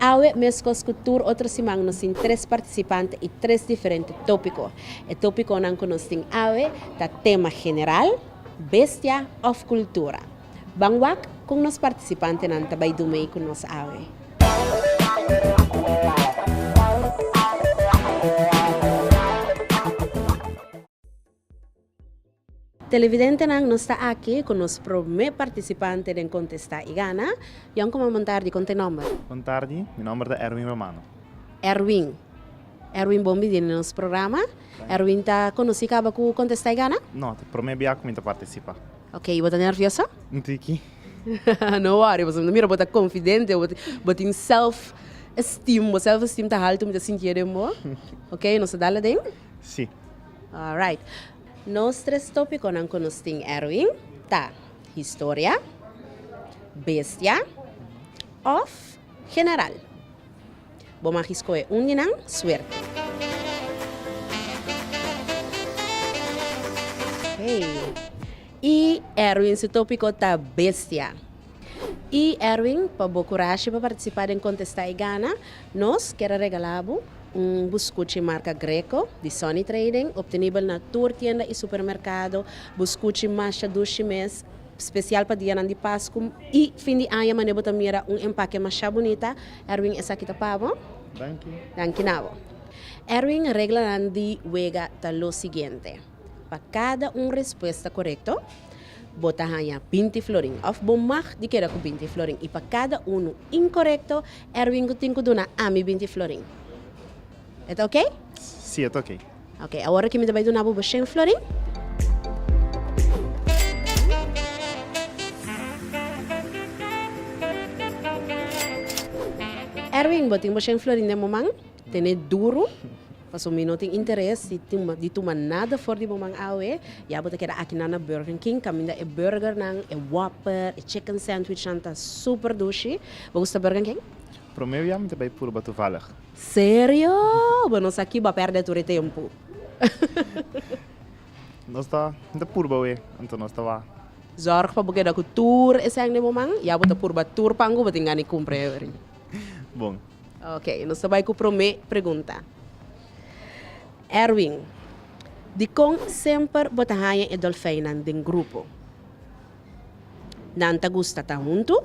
Awe, meskos ku tur otro siman, nos tin tres partisipante i tres diferente tópiko. E tópikonan ku nos tin awe ta tema general, bestia òf kultura. Ban wak kon nos partisipantenan ta bai dumei ku nos awe. Televidentenan nos ta aki cu nos prome participante den Contesta y Gana. Yon como bon tardi, con ta e nomber? Bon tardi, mi nomber ta Erwin Romano. Erwin, Erwin bon bini den nos programa. Erwin ta conoci caba cu Contesta y Gana? No, ta prome bia cu mi ta participa. Ok, y bo ta nervioso? Un tiki. No worry, pasobra mi ta mira bo ta confidente, bo tin self esteem, bo self esteem ta halto mi ta sinti e den bo. Ok, nos ta dal aden? Si. Alright. Nos tres tópikonan ku nos tin Erwin ta, historia, bestia òf general. Bo magi skohe un di nan. Suerte! Hey. I Erwin su tópiko ta, bestia. Y Erwin pa bo curashi pa participa den contesta y gana, nos quiere regala bo un buscuchi marca Greco di Sonny Trading, obtenibel na tur tienda y supermercado, buscuchi masha dushi mes, special pa dianan di Pascu y fin di aña mane bo ta mira un empaque masha bunita, Erwin esaki ta pa bo. Danki. Danki na bo. Erwin, reglanan di wega ta lo siguiente. Pa kada un respuesta korekto, bo ta haña binti florin. Òf bo mag di keda ku binti florin. I pa kada unu inkorekto, Erwin ku tin ku duna ami binti florin. E ta oke? Si, e ta oke. Oke, awor aki mi ta bai duna bo bo shen florin. Erwin, bo tin bo shen florin den bo man? Tene duru, paso mi no tin interes di tuma nada for di bo man awe, ya bo ta keda akinan na Burger King kaminda e burgernan, e whopper, e chicken sandwichnan ta super dushi. Bo gusta Burger King? Promé bia mi ta bai purba tuvalig. Serio? Bo no sa kiba perde tur e tempu. Nos ta mi ta purba awe, anto nos ta wak. Zorg pa bo keda ku tur esèn di bo man, ya bo ta purba tur pan ku bo tin gana di kumpra e awe. Bon. Ok, nos ta bai ku promé pregunta. Erwin, dikon semper bo ta haña e dolfeinnan den grupo? Nan ta gusta ta huntu?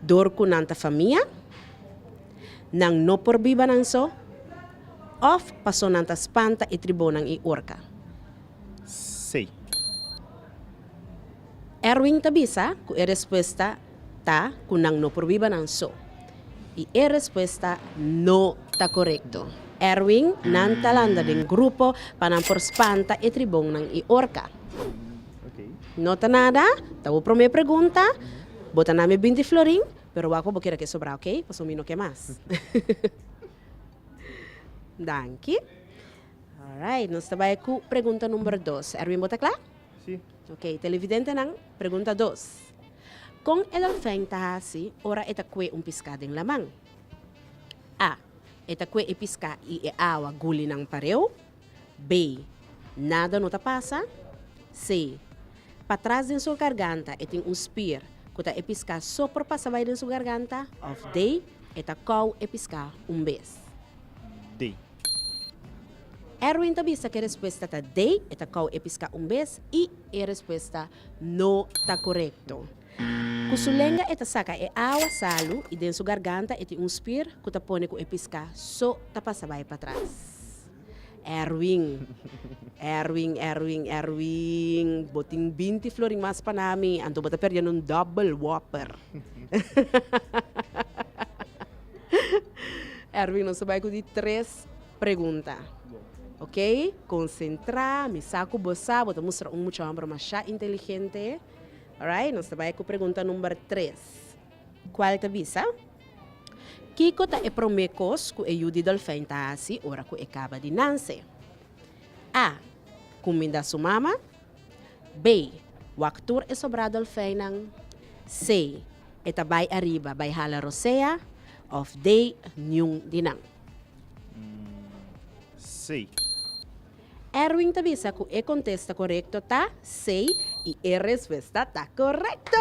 Dor ku nan ta famia? Nan no por biba nan so? Òf pasó nan ta spanta e tribonan i orka? Sei. Erwin ta bisa ku e respuesta ta cu nan no por biba nan so. Y e respuesta no ta corecto. Erwin, Nan ta landa den grupo pa nan por spanta e tribonnan y orca. No ta nada, ta bo prome pregunta. Bo ta na mi binti florin, pero bo a cu bo keda cu e sobra, ok? Pasobra mi no ke mas. Danki. Alright, nos ta bay cu pregunta number dos. Erwin, bo ta cla? Si. Ok, televidentenan, pregunta dos. Kon e dolfèn ta hasi ora e ta kue un piská den laman? A. E ta kue e piská i e awa guli nan pareu. B. Nada no ta pasa. C. Patras den su garganta e tin un spier ku ta e piská so por pasa bai den su garganta. Òf D. E ta kou e piská un bes. D. Erwin ta bisa cu e respuesta ta D, e ta cau e pisca un bes y e respuesta no ta corecto. Cu su lenga e ta saca e awa salu y den su garganta e tin un spier cu ta pone cu e pisca so ta pasa bay patras. Erwin. Erwin, Erwin, Erwin, bo tin binti florin mas pa nami, anto bo ta perdiendo un double whopper. Erwin nos a bai cu di tres pregunta ok concentra mi sa cu bo sa bo ta mustra un mucha homber masha inteligente alright nos ta bai cu pregunta number tres cual ta bisa kico ta e prome cos cu e yu di dolfin ta haci ora cu e caba di nance A. Cuminda su mama. Bey, wak tur e sobrá dolfeinnan, sey e ta bai ariba bai hala rosea of dey niun di nan. Sey. Erwin ta bisa cu e contesta corecto ta sey y e respuesta ta corecto!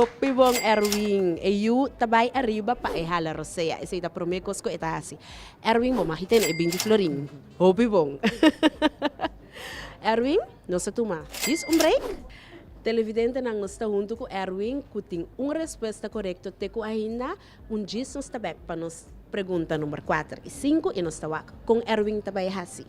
Hopi bon Erwin! E yu ta bai ariba pa e hala rosea, esey ta prome cos cu e ta haci. Erwin, bo mag y tene e binti florin. Hopi bon. Erwin, nos a tuma djis un break. Televidentenan nos ta huntu ku Erwin ku tin un respuesta korekto te ku ainda un djis nos ta bek pa nos pregunta number kuater i sinku i nos ta wak kon Erwin ta bai hasi.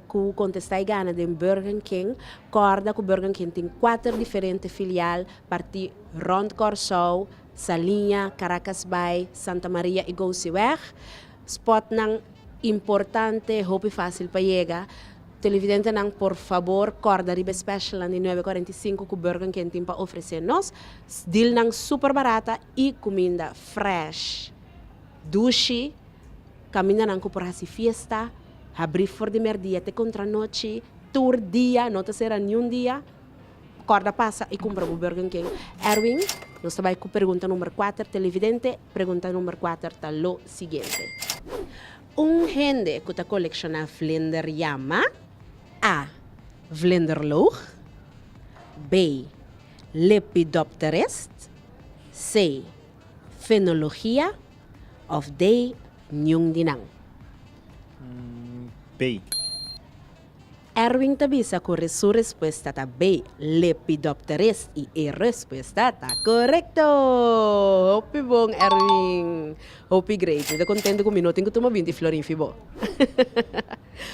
Ku kontestá e gana den Burger King, kòrda ku Burger King tin kuater diferente filial partí rònt Kòrsou, Saliña, Karakas Bai, Santa Maria i Gousiweg. Spòtnan importante, hopi fásil pa yega. Televidentenan por fabor kòrda riba e spèshelnan di nuebe kuarenta i sinku ku Burger King tin pa ofresé nos. Dilnan super barata i kuminda frèsh, dushi. Kamindanan ku por hasi fiesta, habrí for di mèrdia te kontranochi, tur dia, no ta sera niun dia. Kòrda pasa i kumpra bu Burger King. Erwin, nos ta bai ku pregunta number kuater. Televidente, pregunta number kuater ta lo siguiente. Un hende ku ta kolekshoná vlinder yama, a. Vlinderloog B. Lepidopterist C. Fenologia. of dei niun di nan. Bay. Erwin ta bisa ku su respuesta ta bay, Lepidopteris, i e respuesta ta korekto! Hopi bon Erwin! Hopi great! Mi ta kontento ku mi no tin ku tuma binti florin fi bo.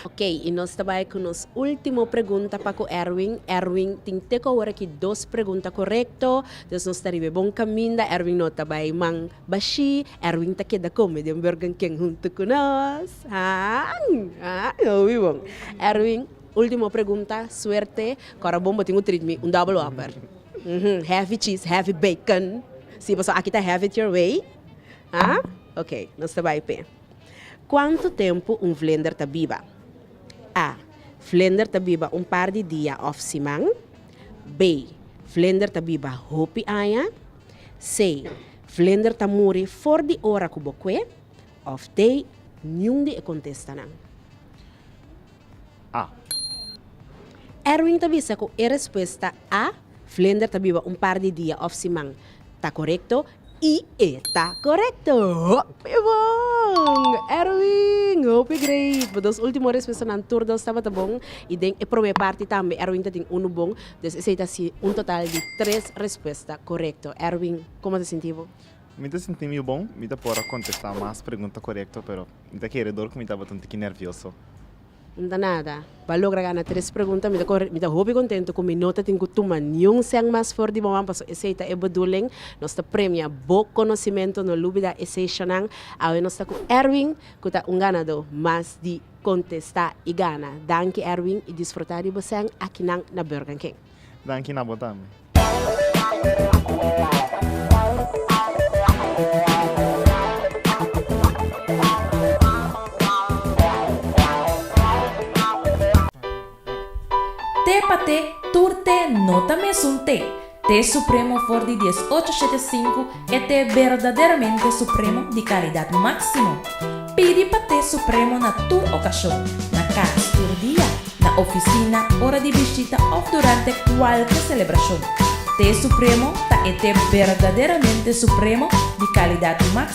Ok, i nos ta bai ku nos ultimo pregunta pa ku Erwin. Erwin tin te ku awor aki dos pregunta korekto, dus nos ta riba e bon kaminda. Erwin no ta bai man Bashi, Erwin ta keda come den Burgerken hunto cu nos. Haan! Haan! Lo oí bon. Erwin, Ultimo pregunta, suerte, Cora bon bo tin un treat me un double whopper. Uhm, heavy cheese, heavy bacon. Sí, pasobra aki ta have it your way. Haan? Ok, nos ta bay p'e. Cuanto tempo un vlinder ta biba? A, Vlinder ta biba un par di dia of siman. B, Vlinder ta biba hopi aña. Sei, vlender ta muri for di ora ku bo kue, òf dei, niun di e kontestanan. A. Erwin ta bisa ku e respuesta A, vlender ta biba un par di dia òf siman, ta korekto i e ta korekto! Hopi bon! Erwin, hopi great! Bo dos último respuestanan tur dos tabata bon i den e promé parti tambe Erwin ta tin unu bon. Des esei ta si un total di tres respuesta korekto. Erwin, komo ta sinti bo? Mi ta sinti mi bon. Mi ta por a kontestá mas pregunta korekto, pero mi ta kere dor ku mi tabata un tiki nervioso. No ta nada. Bo a logra gana tres pregunta. Mi ta kore, mi ta hopi kontentu ku mi no ta tin ku tuma niun sèn mas for di boman, pasobra esei ta e beduling. Nos ta premia bo konosimentu. No lubida esei shònan. Awe nos ta ku Erwin, ku ta un ganadó mas di Contesta y gana. Danki Erwin y disfruta di bo sèn akinan na Burger King. Danki na bo tambe. Te pa te, tur te no ta mes un te. Te supremo for di dies ocho shete sinku e te berdaderamente supremo di kalidat máksimo. Pidi pa te supremo na tur okashon, na kas tur dia, na ofisina, ora di bishita òf durante kualke selebrashon. Te supremo ta e te berdaderamente supremo di kalidat máksimo.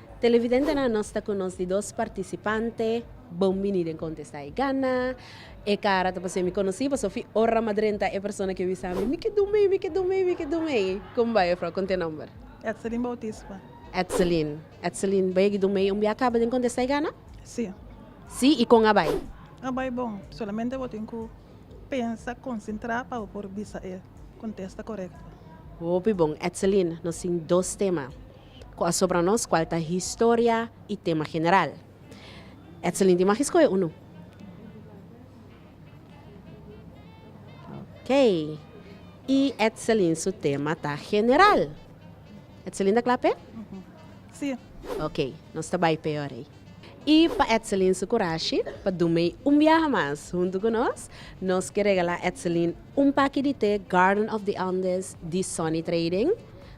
Televidentenan nos ta cu nos di dos participante bon bini den contesta e gana e cara ta pasobra mi conoci pasobra fi ora ma drenta e persona ki a wisa mi mi ke do mei mi ke do mei mi ke do mei con bai jufrou con ta e nomber. Etselin Bautisma. Etselin Etselin bai yagi do mei un bia a caba den contesta e gana? Si. Si y con a bai? A bai bon solamente bo tin cu pensa concentra pa bo por bisa e contesta corecto. Hopi bon Etselin nos tin dos tema. Ku a sobra nos kual ta historia i tema general. Etselin di magi skohe unu. Ok. I Etselin su tema ta general. Etselin ta kla p'e? Si. Ok, nos ta bai p'e ora ei. I pa Etselin su kurashi pa dum'ei un biaha mas huntu ku nos, nos ke regala Etselin un paki di te Garden of the Andes di Sonny Trading.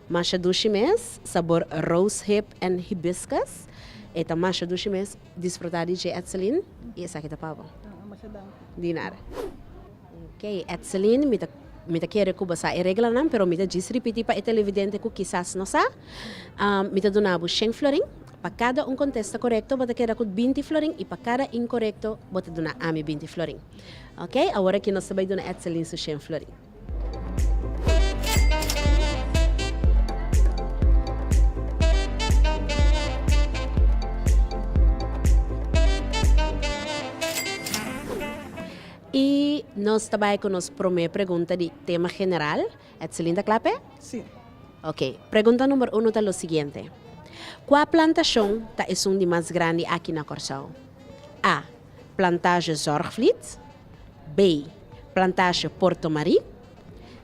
Masha dushi mes, sabor rose hip and hibiscus. E ta masha dushi mes, disfruta di dje Etzeline y esaki ta pa bo. Masha danki. Di nada. Ok Etzeline, mi ta mi ta kere cu bo sa e reglanan, pero mi ta djis ripiti pa e televidente cu kisas no sa. Mi ta duna bo shen florin, pa cada un contesta corecto bo ta keda cu binti florin y pa cada incorecto bo ta duna ami binti florin. Ok, awor aki nos ta bay duna Etzeline su shen florin. I nos ta bai ku nos promé pregunta di tema general. Etselin ta kla p'e? Sí. Oke. Pregunta number uno ta lo siguiente, Kua plantashon ta esun di mas grandi aki na Kòrsou? A. Plantage Zorgvliet, B. Plantage Porto Marie,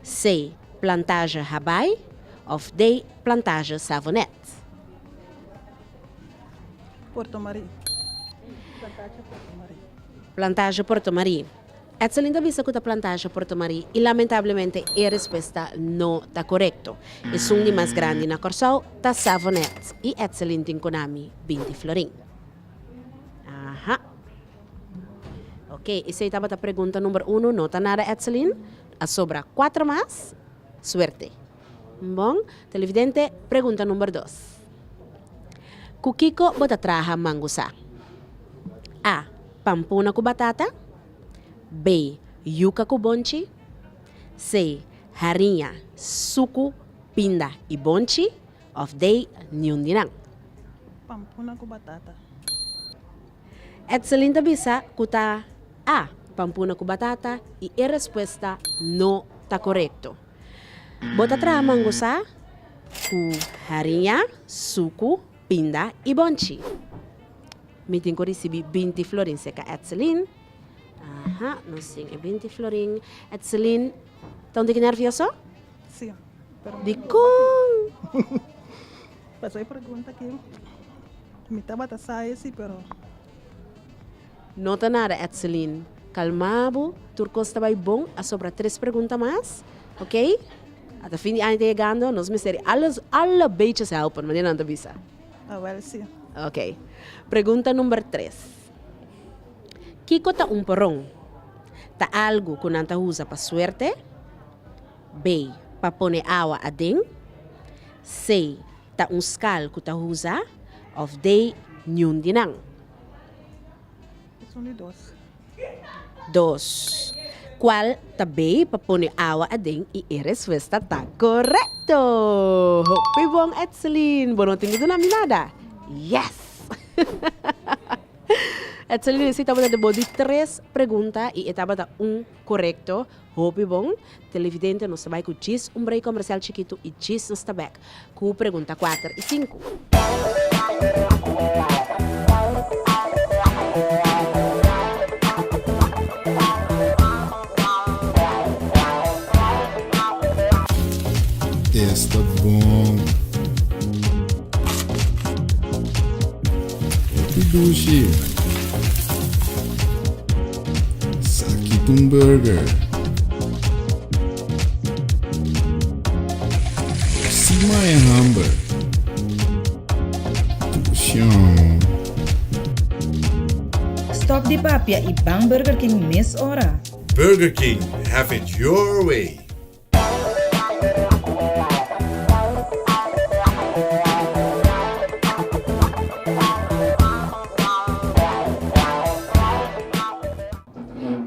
C. Plantage Habai of D. Plantage Savonet. Porto Marie. Plantage Porto Marie. Plantage Porto Marie. Etselin ta bisa ku ta Plantage Porto Marie i lamentablemente e respuesta no ta korekto. Esun di mas grandi na Kòrsou ta Savonet i Etselin tin ku nami binti florin. Aha. Ok, esey tabata pregunta number uno, no ta nada Etselin. A sobra cuatro mas. Suerte. Bon, televidente, pregunta number dos. Cu kico bo ta traha mango sa? A. Pampona cu batata. B. Yuca cu bonchi. C. Hariña, sucu, pinda y bonchi. Of day niun di nan. Pampuna ku batata. Edselin ta bisa ku ta A. Pampuna ku batata i e respuesta no ta korekto. Bo ta traha mangosá ku hariña, suku, pinda i bonchi. Mi tin ku risibí binti florin, seka Edselin. Aha, nos tin e binti florin. Edselin, ta un tiki nervioso? No ta nada Etselin, kalmá bo, tur kos ta bai bon, a sobra tres pregunta mas, ok? Ata fin di aña ta yegando, nos mester di alles, alle beetjes hèlpen, manera nan ta bisa. Ok, pregunta number tres, Kiko ta un poron? Ta algu ku nan ta usa pa suerte? Bay, pa pone awa aden. Say, ta un skal ku ta usa òf day niun di nan. Dos, Kual ta bay pa pone awa aden i e respuesta ta korekto? Hopi bon Edselin! Bo no tin di duna mi nada? Yes! Edselin a sita bo ta di tres pregunta i e tabata un. Korekto, hopi bon. Televidente nos ta bai ku djis un brei komersial chikitu i djis nos ta bèk ku pregunta kuater i sinku. Saki ta un burger. Si mai a hamber. Tuccion. Stop di papia y bang Burger King mes ora. Burger King, have it your way!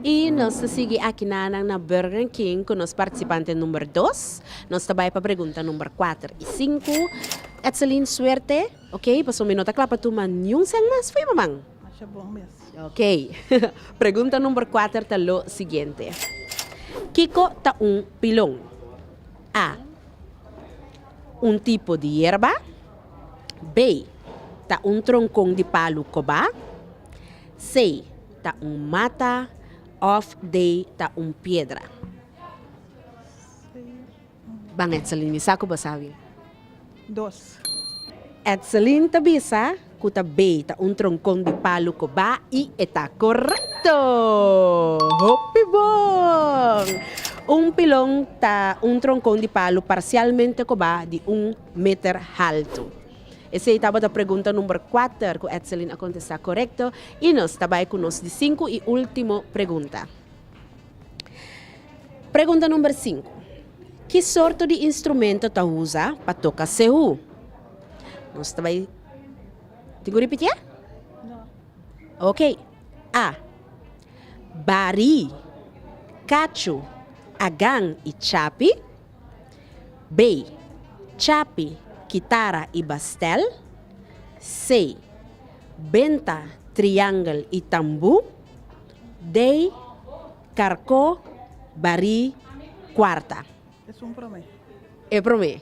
Y nos ta sigui akinanan na Burger King cu nos participante number dos. Nos ta bay pa pregunta number cuater y cinco. Etselien suerte, ok, pasobra mi no ta cla pa tuma niun seng mas fo'i, maman. Masha bon mes. Ok. Pregunta number kuater ta lo siguiente. Kiko ta un pilon? A. Un tipo di yerba. B. Ta un tronkon di palu koba. C. Ta un mata. Of D. Ta un piedra. Ban Edselin mi sa ku bo sa wi. Dos. Edselin ta bisa ku ta bei ta un tronkon di palu koba i e ta korekto! Hopi bon! Un pilon ta un tronkon di palu parsialmente koba di un meter haltu. Esei tabata pregunta number kuater ku Edselin a kontestá korekto i nos ta bai ku nos di sinku i último pregunta. Pregunta number sinku. Ki sorto di instrumento ta usa pa toka sehu? Nos ta bai tin ku ripitié? Ok. A. Bari, kachu, agan i chapi. B. Chapi, kitara i bastel. C. Benta, triangel i tambu. Dei, Carcó, Barí, Cuarta. Es un prome. E prome.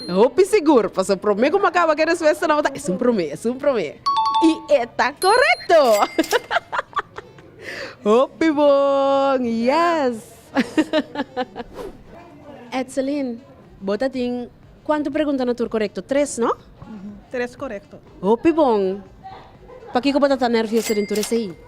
Hopi sigur, paso prome cu macaba cu e respuesta nan bo ta es un prome, es un prome. Y e ta corecto! Hopi bon! Yes! Etzelin, bo ta tin cuantu preguntanan tur corecto? Tres, no? Tres corecto. Hopi bon! Pakico bo ta ta nervioso den tur esey?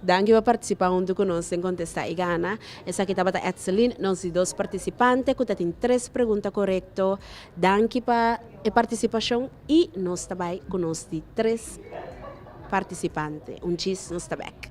Danki pa participa huntu cu nos den Contesta y Gana. Esaki tabata Etzeline, nos di dos participante cu ta tin tres pregunta corecto. Danki pa e participacion y nos ta bay cu nos di tres participante. Un djis nos ta back.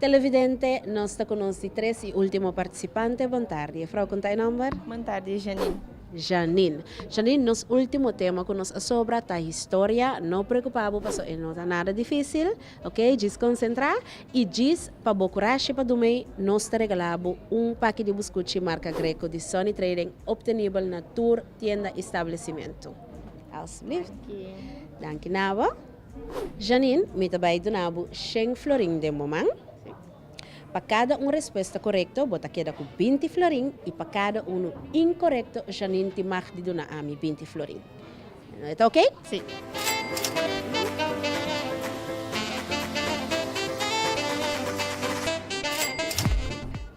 Televidente, nos ta ku nos di tres i ultimo partisipante. Bon tardi. E frou konta e nòmber? Bon tardi, e Janine. Janine. Janine, nos ultimo tema ku nos a sobra ta historia. No preokupá bo paso e no ta nada difísil. Ok, djis konsentrá i djis pa bo kurashi pa dumei, nos ta regalá bo un paki di buskuchi marka Greco di Sunny Trading optenibel na tur tienda i stablesimentu. Alstublieft. Danki na bo. Janine, mi ta bai duna bo shen florin den bo man. Pa kada un respuesta korekto bo ta keda ku binti florin i pa kada unu inkorekto Janine tin mag di duna ami binti florin. E ta ok?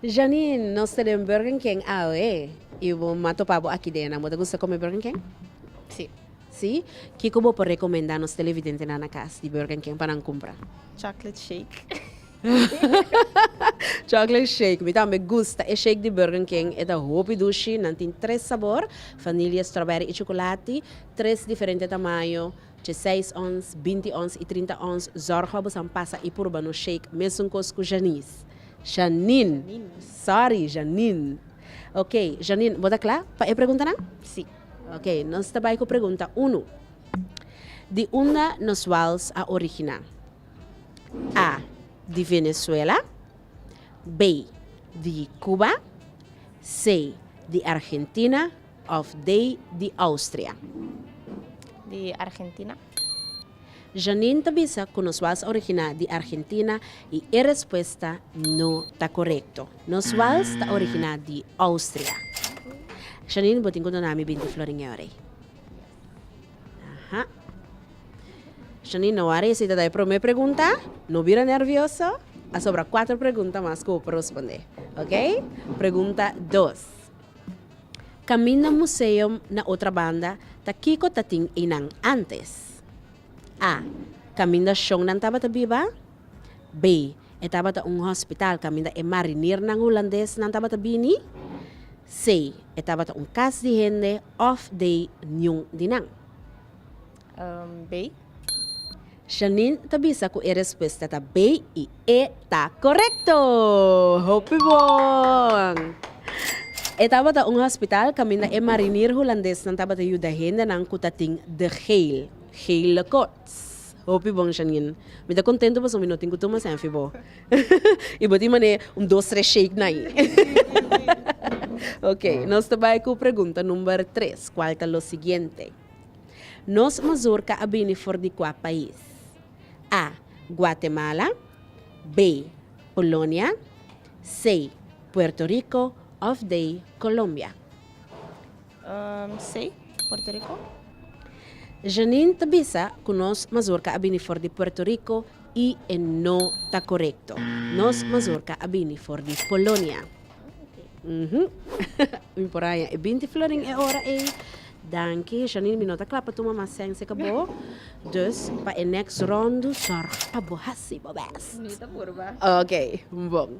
Janine, nos ta den Burger King awe y bo m'a topa bo aki dena. Bo ta gusta come Burger King? Si. Kico bo por recomenda nos televidentenan na cas di Burger King pa nan cumpra? Chocolate shake. Chocolate shake, mi tambe gusta e shake di Burger King, e ta hopi dushi, nan tin tres sabor, vanilje, strawberry i chocolati, tres diferente tamaño, djieseis ons, binti ons i trinta ons, zorgo abusan pasa i purba nos shake mesun kos ku Janice, Janine, sorry Janine, ok Janine bo ta kla pa e preguntanan? Si. Ok nos ta bai ku pregunta unu, di unda nos wals a originá? A di Venezuela, B di Cuba, C di Argentina of D di Austria? Di Argentina. Janine ta bisa cu nos wals a origina di Argentina y e respuesta no ta corecto. Nos wals ta origina di Austria. Janine, bo tin cu dona mi binti florin e ora ey. Aha. Shani no a resi ta da e prome pregunta, no bira nervioso, a sobra cuatro pregunta mas cu bo por responde. Ok? Pregunta dos. Camin na museum na otra banda ta kico ta tin einan antes? A. Caminda shonnan tabata biba. Bay, e tabata un hospital caminda e marinernan Hulandesnan tabata bini, Say, e tabata un cas di hende of day niun di nan. Bay. Shaneen ta bisa cu e respuesta ta bay y e ta corecto! Hopi bon! E tabata un hospital caminda e mariner Hulandesnan tabata yuda hendenan cu ta tin de geil, geile kort. Tss. Hopi bon Janine. Mi ta contento pasobra mi no tin cu tuma senfi bo. Y bo tin manera un dos tres shake na ayi. Ok, nos ta bay cu pregunta number tres, cual ta lo siguiente, Nos mazorca a bini for di cua pais? A. Guatemala B. Polonia C. Puerto Rico of D. Colombia. Sei, Puerto Rico. Janine ta bisa cu nos mazorca a bini for di Puerto Rico y e no ta corecto. Nos mazorca a bini for di Polonia. Mi por haña e binti florin e ora ey. Danki Janine, mi no ta cla pa tuma mas sense ca bo. Dus pa e next rondu zorg pa bo haci bo best. Mi ta purba. Ok, bon.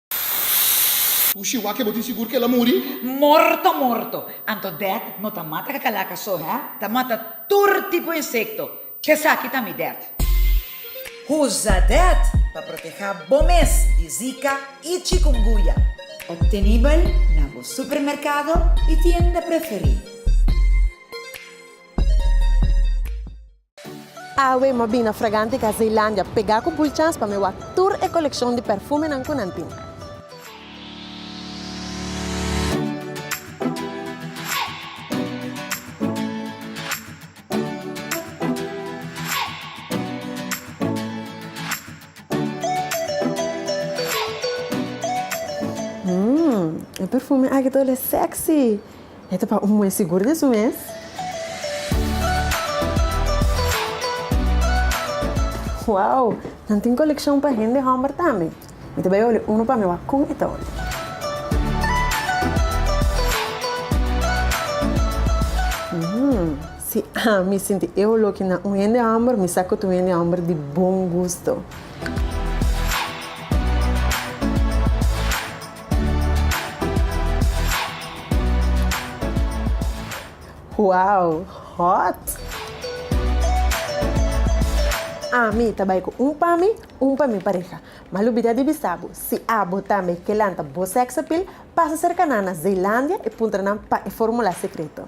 Cu shiwa ke bo tin sigur ke el a muri? Morto morto! Anto dert no ta mata kakalakas so hè? Ta mata tur tipo insekto. Kesaki ta mi dert. Usa dert pa proteha bo mes di zika i chikunguya. Optenibel na bo supermerkado i tienda preferí. Awe m'a bina fragante ka Zeilandia, pegá ku bulchans pa mi wak tur e kolekshon di pèrfumenan ku nan tin. Mmm, e pèrfume aki ta olé sèksi! E ta pa un buen sigur den su mes. Wow! Nan tin kolekshon pa hende hòmber tambe? Mi ta bai olia unu pa mi wak kon e ta olia. Mmmm. Si ami sinti e oló kina un hende hòmber, mi sa ku ta un hende hòmber di bon gusto. Wow hot! Ami ta bai cu un pa mi, un pa mi pareha. Ma lubida di bisa bo, si abo tambe ke lanta bo sex appeal, pasa cerca nan na Zeelandia y puntra nan pa e formula secreto.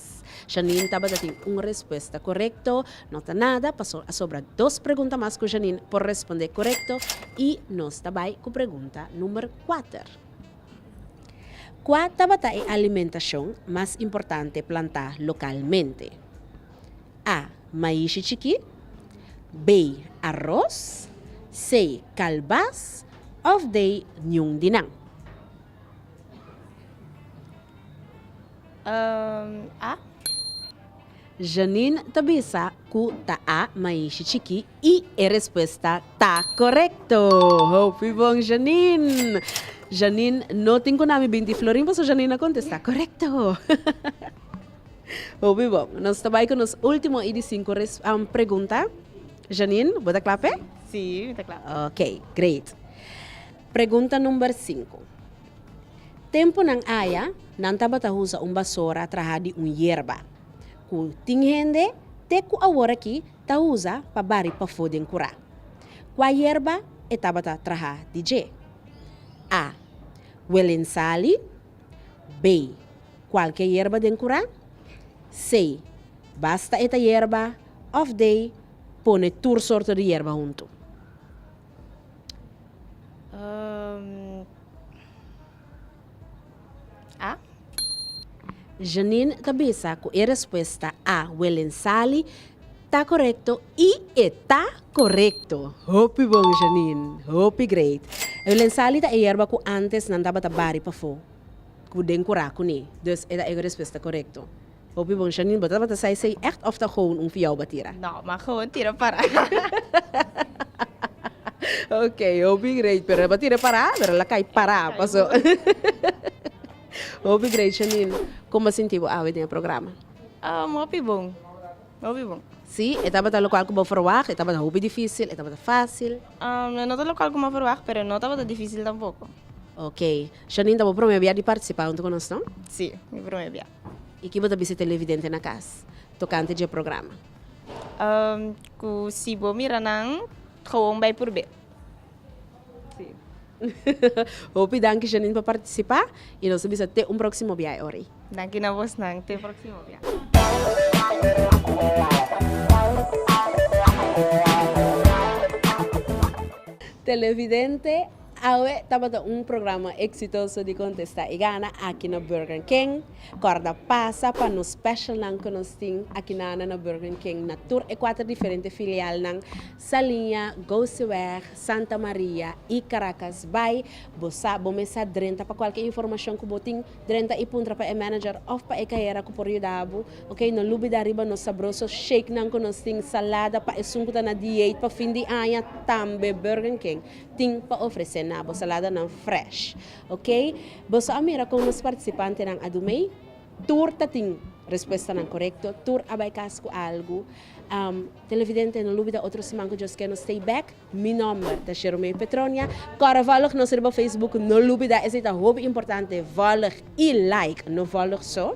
Yes. Janine tabata tin un respuesta corecto. No ta nada paso a sobra dos pregunta mas cu Janine por responde corecto y nos ta bay cu pregunta number cuater. Cua tabata e alimentacion mas importante planta localmente? A. Maishi chiki B. Aros C. Calbas of D. Niun di nan. a. Janine ta bisa cu ta a maishi chiki y e respuesta ta corecto. Hopi bon Janine! Janine no tin cu nami binti Florin paso Janine a contesta corecto. Hopi bon. Nos ta bay cu nos ultimo y di cinco pregunta. Janine, bo ta cla p'e? Si, mi ta cla. Ok, great. Pregunta number cinco. Tempunan aya, nan tabata usa un basora traha di un yerba, ku tin hende te ku aworakí ta usa pa bari pafó den kurá. Kua yerba e tabata traha di dje? A. Welensali B. Kualke yerba den kurá C. Basta e ta yerba òf D. Pone tur sorto di yerba huntu. A. Janine ta bisa cu e respuesta A. Welen Sali ta corecto y e ta corecto! Hopi bon Janine! Hopi great! Welen Sali ta e yerba cu antes nan tabata bari pafo cu den cura cune. Dus e ta e respuesta corecto. Hopi bon Shanine, bo tabata sa esei echt of ta gewoon un fiao batira? No, ma gewoon tira para. Ok, hopi great, pero e batira e para, pero el a cay para, paso. Hopi great Shanine, con bo sinti bo awe den e programa? Um, hopi bon, hopi bon. Si, e tabata locual cu bo verwacht, e tabata hopi dificil, e tabata facil? Um, e no ta locual cu mi a verwacht, pero e no tabata dificil tampoco. Ok, Shanine, ta bo prome bia di participa hunto cu nos no? Si, mi prome bia. I ki bo ta bisa televidente na kas tokante dje programa? Ku si bo mira nan gewoon bai purb'é. Hopi danki Janine pa partisipá i nos ta bisa te un próksimo biaha Ori. Danki na bosnan. Te próksimo biaha. Televidente Awe tabata un programa exitoso di contesta y gana aki na Burger King. Corda pasa pa nos specialnan cu nos tin aki na na Burger King na tur e cuater diferente filialnan, Salinha, Gouseweg, Santa Maria y Caracas Bay. Bo sa bo mes sa drenta pa cualkier informacion cu bo tin drenta y puntra pa e manager of pa e cajera cu por yuda bo, ok. No lubida riba nos sabroso shakenan cu nos tin, salada pa esun cu ta na diate pa fin di aña tambe Burger King tin pa ofresé na bo saladanan fresh. Okey, boso a mira kon nos partisipantenan a dumei. Tur ta tin respuestanan korekto, tur a bai kas ku algu. Televidente, no lubida otro siman ku djos ke nos stay bek. Mi nòmber ta Sheromei Petronia. Kòrò vòlg nos riba Facebook, no lubida esei ta hopi importante, vòlg i like no vòlg so.